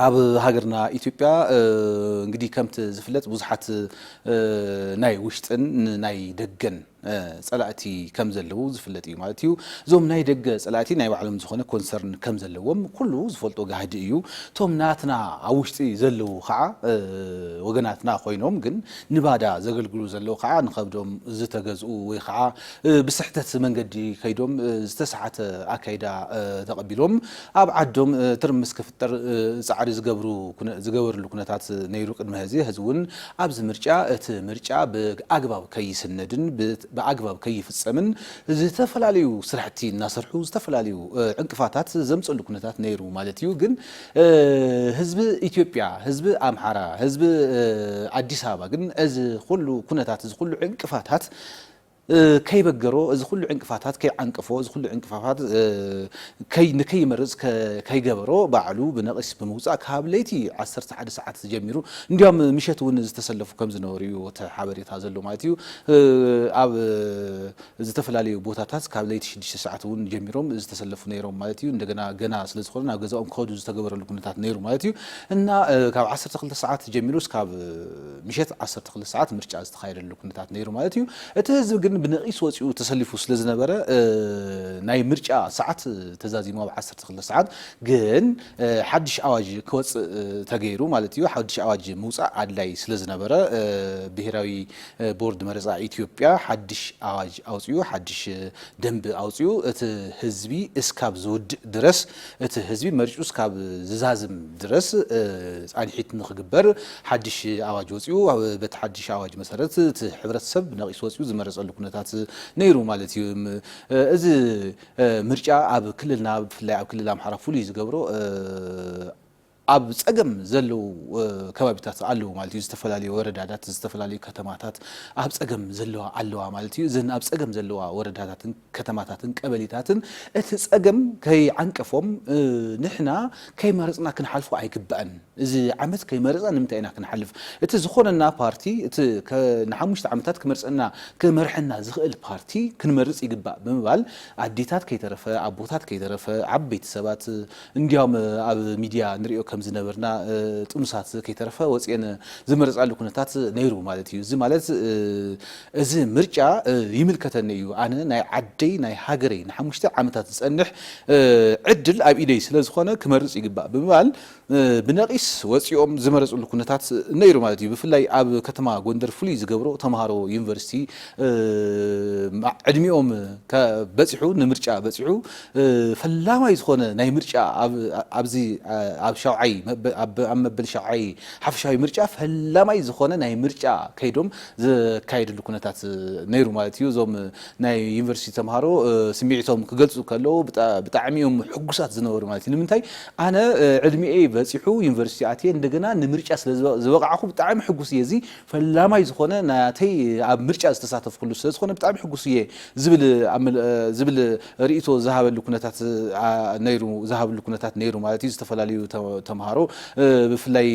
ኣብ ሃገርና ኢትዮጵያ እንግዲህ ከምቲ ዝፍለጥ ብዙሓት ናይ ውሽጥን ናይ ደገን ጸላእቲ ከም ዘለዉ ዝፍለጥ እዩ ማለት እዩ። እዞም ናይ ደገ ጸላእቲ ናይ ባዕሎም ዝኾነ ኮንሰርን ከም ዘለዎም ኩሉ ዝፈልጦ ጋህዲ እዩ። እቶም ናትና ኣብ ውሽጢ ዘለዉ ከኣ ወገናትና ኮይኖም ግን ንባዳ ዘገልግሉ ዘለዉ ከኣ ንኸብዶም ዝተገዝኡ ወይ ከኣ ብስሕተት መንገዲ ከይዶም ዝተሰሓተ ኣካይዳ ተቐቢሎም ኣብ ዓዶም ትርምስ ክፍጠር ጻዕሪ ዝገብሩ ዝገበርሉ ኩነታት ነይሩ ቅድመ ሀዚ፣ ሀዚ እውን ኣብዚ ምርጫ እቲ ምርጫ ብኣግባብ ከይስነድን ብኣግባብ ከይፍጸምን ዝተፈላለዩ ስራሕቲ እናሰርሑ ዝተፈላለዩ ዕንቅፋታት ዘምጸሉ ኩነታት ነይሩ ማለት እዩ። ግን ህዝቢ ኢትዮጵያ ህዝቢ ኣምሓራ ህዝቢ ኣዲስ ኣበባ ግን እዚ ኩሉ ኩነታት እዚ ኩሉ ዕንቅፋታት ከይበገሮ እዚ ኩሉ ዕንቅፋታት ከይዓንቀፎ እዚ ኩሉ ዕንቅፋፋት ንከይመርጽ ከይገበሮ ባዕሉ ብነቂስ ብምውጻእ ካብ ለይቲ ዓሰርተ ሓደ ሰዓት ጀሚሩ እንድያም ምሸት እውን ዝተሰለፉ ከምዝነበሩ እዩ እቲ ሓበሬታ ዘሎ ማለት እዩ። ኣብ ዝተፈላለዩ ቦታታት ካብ ለይቲ ሽዱሽተ ሰዓት እውን ጀሚሮም ዝተሰለፉ ነይሮም ማለት እዩ። እንደገና ገና ስለዝኾነ ናብ ገዛኦም ክኸዱ ዝተገበረሉ ኩነታት ነይሩ ማለት እዩ እና ካብ ዓሰርተ ክልተ ሰዓት ጀሚሩ እስካብ ምሸት ዓሰርተ ክልተ ሰዓት ምርጫ ዝተኻየደሉ ኩነታት ነይሩ ማለት እዩ። እቲ ህዝቢ ግን ብነቂስ ወፂኡ ተሰሊፉ ስለዝነበረ ናይ ምርጫ ሰዓት ተዛዚሙ ኣብ ዓሰርተ ክልተ ሰዓት ግን ሓዱሽ ኣዋጅ ክወፅእ ተገይሩ ማለት እዩ። ሓዱሽ ኣዋጅ ምውፃእ ኣድላይ ስለዝነበረ ብሄራዊ ቦርድ መረፃ ኢትዮጵያ ሓዱሽ ኣዋጅ ኣውፂኡ ሓዱሽ ደንቢ ኣውፂኡ እቲ ህዝቢ እስካብ ዝውድእ ድረስ እቲ ህዝቢ መሪፁ እስካብ ዝዛዝም ድረስ ፃንሒት ንኽግበር ሓዱሽ ኣዋጅ ወፂኡ። በቲ ሓዱሽ ኣዋጅ መሰረት እቲ ሕብረተሰብ ነቒሱ ወፂኡ ዝመረፀሉ ኩነታት ነይሩ ማለት እዩ። እዚ ምርጫ ኣብ ክልልና ብፍላይ ኣብ ክልል ኣምሓራ ፍሉይ ዝገብሮ ኣብ ፀገም ዘለዉ ከባቢታት ኣለዉ ማለት እዩ። ዝተፈላለዩ ወረዳታት፣ ዝተፈላለዩ ከተማታት ኣብ ፀገም ዘለዋ ኣለዋ ማለት እዩ። እዘን ኣብ ፀገም ዘለዋ ወረዳታትን ከተማታትን ቀበሌታትን እቲ ፀገም ከይዓንቀፎም ንሕና ከይመረፅና ክንሓልፎ ኣይግባእን። እዚ ዓመት ከይመረፅና ንምንታይ ኢና ክንሓልፍ? እቲ ዝኾነና ፓርቲ፣ እቲ ንሓሙሽተ ዓመታት ክመርፀና ክመርሐና ዝኽእል ፓርቲ ክንመርፅ ይግባእ ብምባል ኣዴታት ከይተረፈ፣ ኣቦታት ከይተረፈ፣ ዓበይቲ ሰባት፣ እንድያውም ኣብ ሚድያ ንሪኦ ከም ዝነበርና ጥኑሳት ከይተረፈ ወፂኤን ዝመረፃሉ ኩነታት ነይሩ ማለት እዩ። እዚ ማለት እዚ ምርጫ ይምልከተኒ እዩ፣ ኣነ ናይ ዓደይ ናይ ሃገረይ ንሓሙሽተ ዓመታት ዝፀንሕ ዕድል ኣብ ኢደይ ስለዝኾነ ክመርፅ ይግባእ ብምባል ብነቂስ ወፂኦም ዝመረፅሉ ኩነታት ነይሩ ማለት እዩ። ብፍላይ ኣብ ከተማ ጎንደር ፍሉይ ዝገብሮ ተምሃሮ ዩኒቨርሲቲ ዕድሚኦም በፂሑ ንምርጫ በፂሑ ፈላማይ ዝኾነ ናይ ምርጫ ኣብ ኣብዚ ኣብ ሻውዓይ ኣብ መበል ሻውዓይ ሓፈሻዊ ምርጫ ፈላማይ ዝኾነ ናይ ምርጫ ከይዶም ዘካየድሉ ኩነታት ነይሩ ማለት እዩ። እዞም ናይ ዩኒቨርሲቲ ተምሃሮ ስምዒቶም ክገልጹ ከለዉ ብጣዕሚ እዮም ሕጉሳት ዝነበሩ ማለት እዩ። ንምንታይ ኣነ ዕድሚኤይ በጺሑ ዩኒቨርሲቲ ኣትየ እንደገና ንምርጫ ስለ ዝበቓዕኹ ብጣዕሚ ሕጉስ እየ እዚ ፈላማይ ዝኾነ ናተይ ኣብ ምርጫ ዝተሳተፍኩሉ ስለዝኾነ ብጣዕሚ ሕጉስ እየ ዝብል ዝብል ርእይቶ ዝሃበሉ ኩነታት ነይሩ ዝሃብሉ ኩነታት ነይሩ ማለት እዩ ዝተፈላለዩ ተምሃሮ ብፍላይ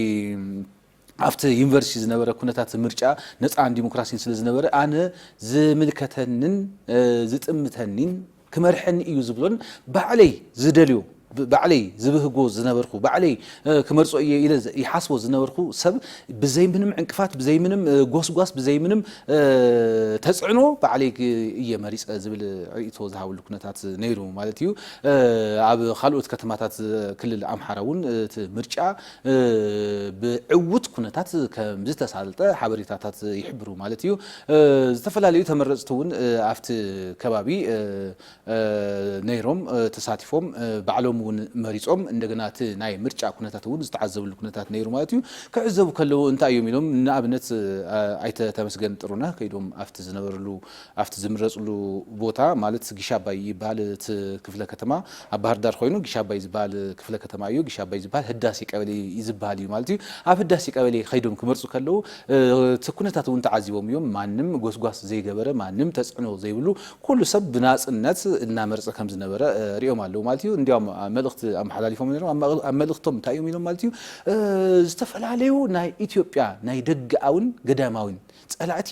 ኣብቲ ዩኒቨርሲቲ ዝነበረ ኩነታት ምርጫ ነፃን ዲሞክራሲን ስለዝነበረ ኣነ ዝምልከተንን ዝጥምተኒን ክመርሐኒ እዩ ዝብሎን ባዕለይ ዝደልዮ ባዕለይ ዝብህጎ ዝነበርኩ ባዕለይ ክመርጾ እየ ኢለ ይሓስቦ ዝነበርኩ ሰብ ብዘይ ምንም ዕንቅፋት ብዘይ ምንም ጎስጓስ ብዘይ ምንም ተጽዕኖ ባዕለይ እየ መሪጸ ዝብል ርእይቶ ዝሃበሉ ኩነታት ነይሩ ማለት እዩ። ኣብ ካልኦት ከተማታት ክልል ኣምሓራ እውን እቲ ምርጫ ብዕዉት ኩነታት ከምዝተሳልጠ ሓበሬታታት ይሕብሩ ማለት እዩ። ዝተፈላለዩ ተመረፅቲ እውን ኣብቲ ከባቢ ነይሮም ተሳቲፎም ባዕሎም እውን መሪፆም እንደገና እቲ ናይ ምርጫ ኩነታት እውን ዝተዓዘብሉ ኩነታት ነይሩ ማለት እዩ። ክዕዘቡ ከለው እንታይ እዮም ኢሎም ንኣብነት ኣይተ ተመስገን ጥሩነህ ከይዶም ኣብቲ ዝነበርሉ ኣብቲ ዝምረፅሉ ቦታ ማለት ጊሽ ኣባይ ይበሃል እቲ ክፍለ ከተማ ኣብ ባህርዳር ኾይኑ ጊሽ ኣባይ ዝበሃል ክፍለ ከተማ እዩ ጊሽ ኣባይ ዝበሃል ህዳሴ ቀበሌ ዝበሃል እዩ ማለት እዩ ኣብ ህዳሴ ቀበሌ ኸይዶም ክመርፁ ከለው እቲ ኩነታት እውን ተዓዚቦም እዮም ማንም ጎስጓስ ዘይገበረ ማንም ተፅዕኖ ዘይብሉ ኩሉ ሰብ ብናፅነት እናመረፀ ከም ዝነበረ ሪኦም ኣለው ማለት እዩ እንዲያውም መልእኽቲ ኣመሓላሊፎም ነይሮም ኣብ መልእኽቶም እንታይ እዮም ኢሎም ማለት እዩ ዝተፈላለዩ ናይ ኢትዮጵያ ናይ ደገኣዊን ገዳማዊን ፀላእቲ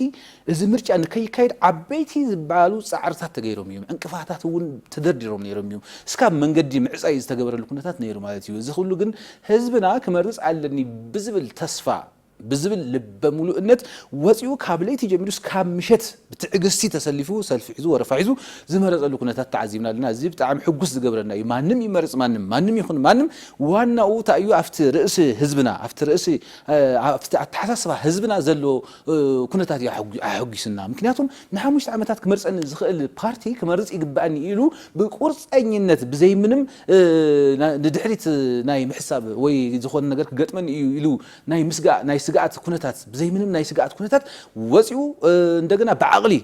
እዚ ምርጫ ንከይካየድ ዓበይቲ ዝበሃሉ ፃዕርታት ተገይሮም እዮም። ዕንቅፋታት እውን ተደርዲሮም ነይሮም እዮም። እስካብ መንገዲ ምዕፃይ ዝተገበረሉ ኩነታት ነይሩ ማለት እዩ። እዚ ኩሉ ግን ህዝብና ክመርፅ ኣለኒ ብዝብል ተስፋ ብዝብል ልበ ሙሉእነት ወፂኡ ካብ ለይቲ ጀሚሩ እስካብ ምሸት ብትዕግስቲ ተሰሊፉ ሰልፊ ሒዙ ወረፋ ሒዙ ዝመረፀሉ ኩነታት ተዓዚብና ኣለና። እዚ ብጣዕሚ ሕጉስ ዝገብረና እዩ። ማንም ይመርፅ ማንም ማንም ይኹን ማንም ዋናኡ ታይ እዩ ኣፍቲ ርእሲ ህዝብና ኣፍቲ ርእሲ ኣብቲ ኣተሓሳስባ ህዝብና ዘሎ ኩነታት እዩ ኣሐጒሱና። ምክንያቱም ንሓሙሽተ ዓመታት ክመርፀኒ ዝኽእል ፓርቲ ክመርፅ ይግበኣኒ ኢሉ ብቁርፀኝነት ብዘይምንም ንድሕሪት ናይ ምሕሳብ ወይ ዝኾነ ነገር ክገጥመኒ እዩ ኢሉ ናይ ምስጋእ ናይ ስግኣት ኩነታት ብዘይምንም ናይ ስግኣት ኩነታት ወፂኡ እንደገና ብዓቕሊ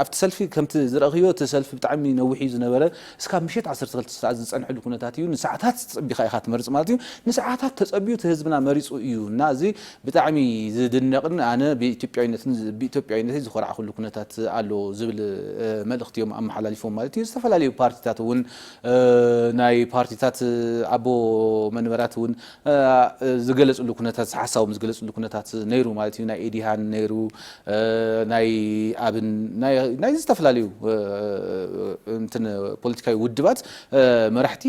ኣብቲ ሰልፊ ከምቲ ዝረእኽዮ እቲ ሰልፊ ብጣዕሚ ነዊሕ እዩ ዝነበረ እስካብ ምሸት ዓሰርተ ክልተ ሰዓት ዝፀንሐሉ ኩነታት እዩ ንሰዓታት ፀቢኻ ኢኻ ትመርፅ ማለት እዩ ንሰዓታት ተፀብዩ እቲ ህዝብና መሪፁ እዩ እና እዚ ብጣዕሚ ዝድነቕን ኣነ ብኢትዮጵያዊነትን ብኢትዮጵያዊነተይ ዝኾራዕኹሉ ኩነታት ኣሎ ዝብል መልእኽቲ እዮም ኣመሓላሊፎም ማለት እዩ ዝተፈላለዩ ፓርቲታት እውን ናይ ፓርቲታት ኣቦ መንበራት እውን ዝገለጽሉ ኩነታት ሓሳቦም ዝገለጽሉ ኩነታት ነይሩ ማለት እዩ ናይ ኤዲሃን ነይሩ ናይ ኣብን ናይ ዝተፈላለዩ እንትን ፖለቲካዊ ውድባት መራሕቲ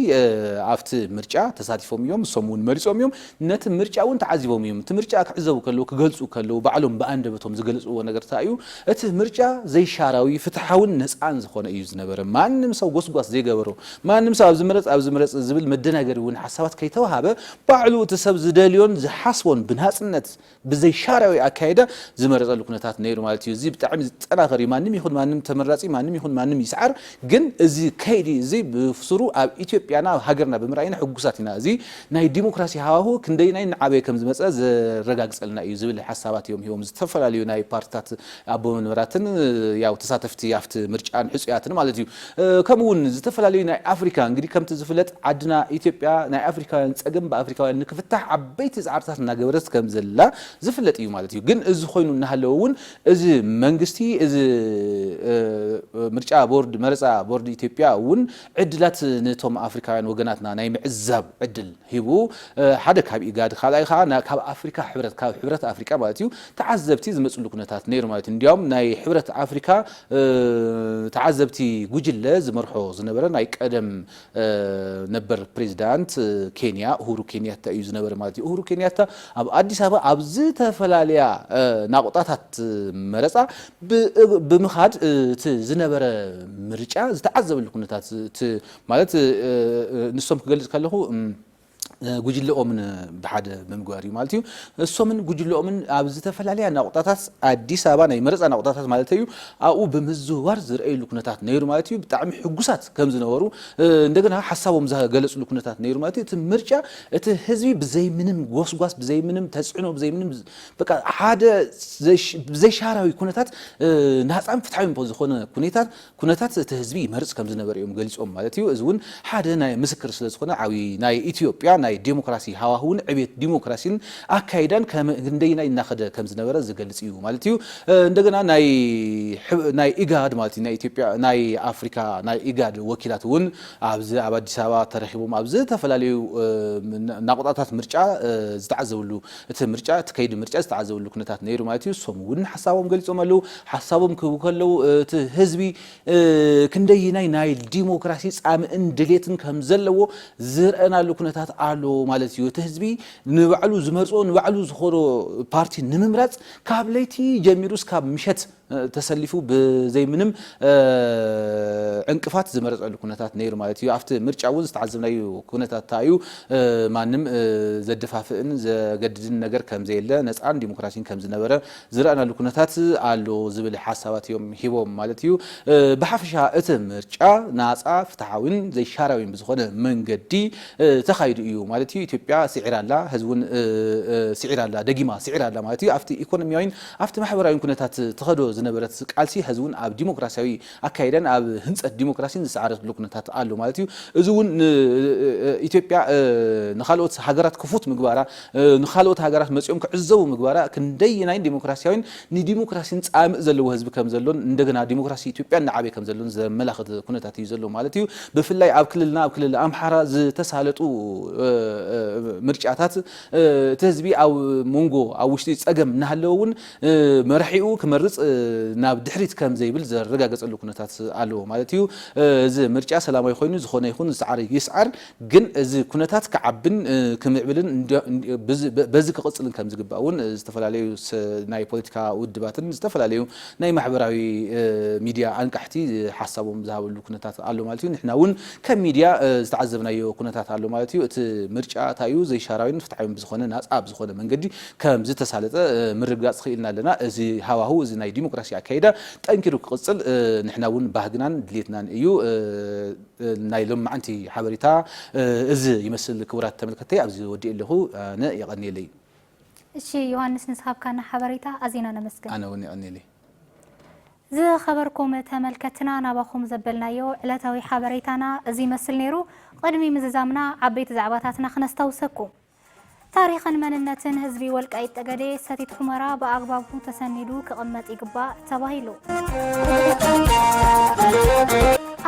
ኣብቲ ምርጫ ተሳቲፎም እዮም ንሶም እውን መሪጾም እዮም ነቲ ምርጫ እውን ተዓዚቦም እዮም እቲ ምርጫ ክዕዘቡ ከለዉ ክገልጹ ከለዉ ባዕሎም ብኣንደበቶም ዝገለጽዎ ነገር እንታይ እዩ እቲ ምርጫ ዘይሻራዊ ፍትሓውን ነጻን ዝኾነ እዩ ዝነበረ ማንም ሰው ጎስጓስ ዘይገበሮ ማንም ሰብ ኣብዚ ምረጽ ኣብዚ ምረጽ ዝብል መደናገሪ እውን ሓሳባት ከይተወሃበ ባዕሉ እቲ ሰብ ዝደልዮን ዝሓስቦን ብናጽነት ብዘይ ሻርዕዊ ኣካይዳ ዝመረጸሉ ኩነታት ነይሩ ማለት እዩ። እዚ ብጣዕሚ ዝጠናኸር እዩ። ማንም ይኹን ማንም ተመራጺ ማንም ይኹን ማንም ይስዓር ግን እዚ ከይዲ እዚ ብሱሩ ኣብ ኢትዮጵያና ኣብ ሃገርና ብምርኣይና ሕጉሳት ኢና። እዚ ናይ ዲሞክራሲ ሃዋሁ ክንደይናይ እናዓበየ ከምዝመጸ ዘረጋግጸልና እዩ ዝብል ሓሳባት እዮም ሂቦም ዝተፈላለዩ ናይ ፓርትታት ኣቦ መንበራትን ያው ተሳተፍቲ ኣብቲ ምርጫን ሕጹያትን ማለት እዩ። ከምኡ ውን ዝተፈላለዩ ናይ ኣፍሪካ እንግዲህ ከምቲ ዝፍለጥ ዓድና ኢትዮጵያ ናይ ኣፍሪካውያን ጸገም ብኣፍሪካውያን ንክፍታሕ ዓበይቲ ጻዕርታት እናገበረት ከም ዘላ ዝፍለጥ እዩ ማለት እዩ። ግን እዚ ኮይኑ እናሃለወ ውን እዚ መንግስቲ እዚ ምርጫ ቦርድ መረጻ ቦርድ ኢትዮጵያ ውን ዕድላት ነቶም ኣፍሪካውያን ወገናትና ናይ ምዕዛብ ዕድል ሂቡ፣ ሓደ ካብ ኢጋድ ካልኣይ ከኣ ካብ ኣፍሪካ ሕብረት ካብ ሕብረት ኣፍሪቃ ማለት እዩ ተዓዘብቲ ዝመጽሉ ኩነታት ነይሩ ማለት እዩ። እንዲያውም ናይ ሕብረት ኣፍሪካ ተዓዘብቲ ጉጅለ ዝመርሖ ዝነበረ ናይ ቀደም ነበር ፕሬዚዳንት ኬንያ እሁሩ ኬንያታ እዩ ዝነበረ ማለት እዩ። እሁሩ ኬንያታ ኣብ ኣዲስ ኣበባ ኣብ ዝተፈላለያ ናቑጣታት መረፃ ብምኻድ እቲ ዝነበረ ምርጫ ዝተዓዘበሉ ኩነታት እቲ ማለት ንሶም ክገልጽ ከለኹ ጉጅለኦምን ብሓደ ብምግባር እዩ ማለት እዩ። እሶምን ጉጅለኦምን ኣብ ዝተፈላለያ ናቑጣታት ኣዲስ ኣበባ ናይ መረፃ ናቑጣታት ማለት እዩ ኣብኡ ብምዝውዋር ዝርኣይሉ ኩነታት ነይሩ ማለት እዩ። ብጣዕሚ ሕጉሳት ከም ዝነበሩ እንደገና ሓሳቦም ዝገለፅሉ ኩነታት ነይሩ ማለት እዩ። እቲ ምርጫ እቲ ህዝቢ ብዘይ ምንም ጎስጓስ ብዘይ ምንም ተፅዕኖ ብዘይ ምንም በቃ ሓደ ብዘይሻራዊ ኩነታት ናፃን ፍትሓዊን ዝኾነ ኩነታት ኩነታት እቲ ህዝቢ ይመርጽ ከም ዝነበረ እዮም ገሊጾም ማለት እዩ። እዚ እውን ሓደ ናይ ምስክር ስለ ዝኾነ ዓብዪ ናይ ኢትዮጵያ ናይ ዴሞክራሲ ሃዋህውን ዕብየት ዲሞክራሲን ኣካይዳን ክንደየናይ እናኸደ ከም ዝነበረ ዝገልጽ እዩ ማለት እዩ። እንደገና ናይ ኢጋድ ማለት እዩ ናይ ኢትዮጵያ ናይ ኣፍሪካ ናይ ኢጋድ ወኪላት እውን ኣብዚ ኣብ ኣዲስ ኣበባ ተረኺቦም ኣብ ዝተፈላለዩ ናቑጣታት ምርጫ ዝተዓዘብሉ እቲ ምርጫ እቲ ከይዲ ምርጫ ዝተዓዘበሉ ኩነታት ነይሩ ማለት እዩ። እሶም እውን ሓሳቦም ገሊፆም ኣለው። ሓሳቦም ክህቡ ከለው እቲ ህዝቢ ክንደይናይ ናይ ዲሞክራሲ ፃምእን ድሌትን ከም ዘለዎ ዝርኣናሉ ኩነታት ኣሎ ማለት እዩ። እቲ ህዝቢ ንባዕሉ ዝመርፆ ንባዕሉ ዝኾኖ ፓርቲ ንምምራፅ ካብ ለይቲ ጀሚሩ እስካብ ምሸት ተሰሊፉ ብዘይ ምንም ዕንቅፋት ዝመረፀሉ ኩነታት ነይሩ ማለት እዩ። ኣብቲ ምርጫ እውን ዝተዓዘብናዩ ኩነታት እንታ እዩ ማንም ዘደፋፍእን ዘገድድን ነገር ከምዘየለ ነፃን ዲሞክራሲን ከምዝነበረ ዝረእናሉ ኩነታት ኣሎ ዝብል ሓሳባት እዮም ሂቦም ማለት እዩ። ብሓፈሻ እቲ ምርጫ ናፃ፣ ፍትሓዊን ዘይሻራዊን ብዝኾነ መንገዲ ተኻይዱ እዩ ማለት እዩ። ኢትዮጵያ ስዒራ ኣላ፣ ህዝቢ እውን ስዒራ ኣላ፣ ደጊማ ስዒራ ኣላ ማለት እዩ። ኣብቲ ኢኮኖሚያዊን ኣብቲ ማሕበራዊን ኩነታት ትኸዶ ዝነበረት ቃልሲ ሐዚ እውን ኣብ ዲሞክራሲያዊ ኣካይዳን ኣብ ህንፀት ዲሞክራሲን ዝሰዓረትሉ ኩነታት ኣሎ ማለት እዩ። እዚ እውን ንኢትዮጵያ ንኻልኦት ሃገራት ክፉት ምግባራ፣ ንኻልኦት ሃገራት መፂኦም ክዕዘቡ ምግባራ ክንደየናይ ዲሞክራሲያዊን ንዲሞክራሲን ፃምእ ዘለዎ ህዝቢ ከምዘሎን እንደገና ዲሞክራሲ ኢትዮጵያ እናዓበየ ከምዘሎን ዘመላኽት ኩነታት እዩ ዘሎ ማለት እዩ። ብፍላይ ኣብ ክልልና ኣብ ክልል ኣምሓራ ዝተሳለጡ ምርጫታት እቲ ህዝቢ ኣብ ሞንጎ ኣብ ውሽጢ ጸገም እናሃለወ እውን መራሒኡ ክመርጽ ናብ ድሕሪት ከም ዘይብል ዘረጋገጸሉ ኩነታት ኣለዎ ማለት እዩ። እዚ ምርጫ ሰላማዊ ኮይኑ ዝኾነ ይኹን ዝሰዓረ ይስዓር ግን እዚ ኩነታት ክዓብን ክምዕብልን በዚ ክቕጽልን ከም ዝግባእ እውን ዝተፈላለዩ ናይ ፖለቲካ ውድባትን ዝተፈላለዩ ናይ ማሕበራዊ ሚድያ ኣንቃሕቲ ሓሳቦም ዝሃበሉ ኩነታት ኣሎ ማለት እዩ። ንሕና እውን ከም ሚድያ ዝተዓዘብናዮ ኩነታት ኣሎ ማለት እዩ። እቲ ምርጫ እታይ እዩ ዘይሻራዊን ፍትሓዊን ብዝኾነ ናፃ ብዝኾነ መንገዲ ከም ዝተሳለጠ ምርግጋፅ ኽኢልና ኣለና። እዚ ሃዋህው እዚ ናይ ዲሞክራሲ ኣካይዳ ጠንኪሩ ክቕፅል ንሕና እውን ባህግናን ድሌትናን እዩ። ናይ ሎምዓንቲ ሓበሬታ እዚ ይመስል ክቡራት ተመልከትተይ ኣብዚ ወዲኤ ኣለኹ ኣነ የቐንየለይ። እሺ ዮሃንስ ንስኻብካና ሓበሬታ ኣዚና ነመስግን። ኣነ እውን የቐንየለይ። ዝኸበርኩም ተመልከትና ናባኹም ዘበልናዮ ዕለታዊ ሓበሬታና እዚ ይመስል ነይሩ። ቕድሚ ምዝዛምና ዓበይቲ ዛዕባታትና ክነስታውሰኩም። ታሪኽን መንነትን ህዝቢ ወልቃይት ጠገዴ ሰቲት ሑመራ ብኣግባቡ ተሰኒዱ ክቕመጥ ይግባእ ተባሂሉ።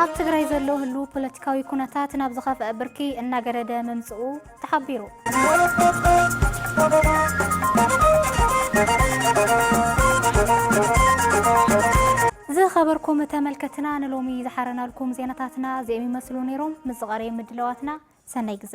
ኣብ ትግራይ ዘሎ ህሉ ፖለቲካዊ ኩነታት ናብ ዝኸፍአ ብርኪ እናገደደ ምምፅኡ ተሓቢሩ። ዝኸበርኩም ተመልከትና ንሎሚ ዝሓረናልኩም ዜናታትና እዚኦም ይመስሉ ነይሮም። ምስ ዝቐረየ ምድላዋትና ሰናይ ግዘ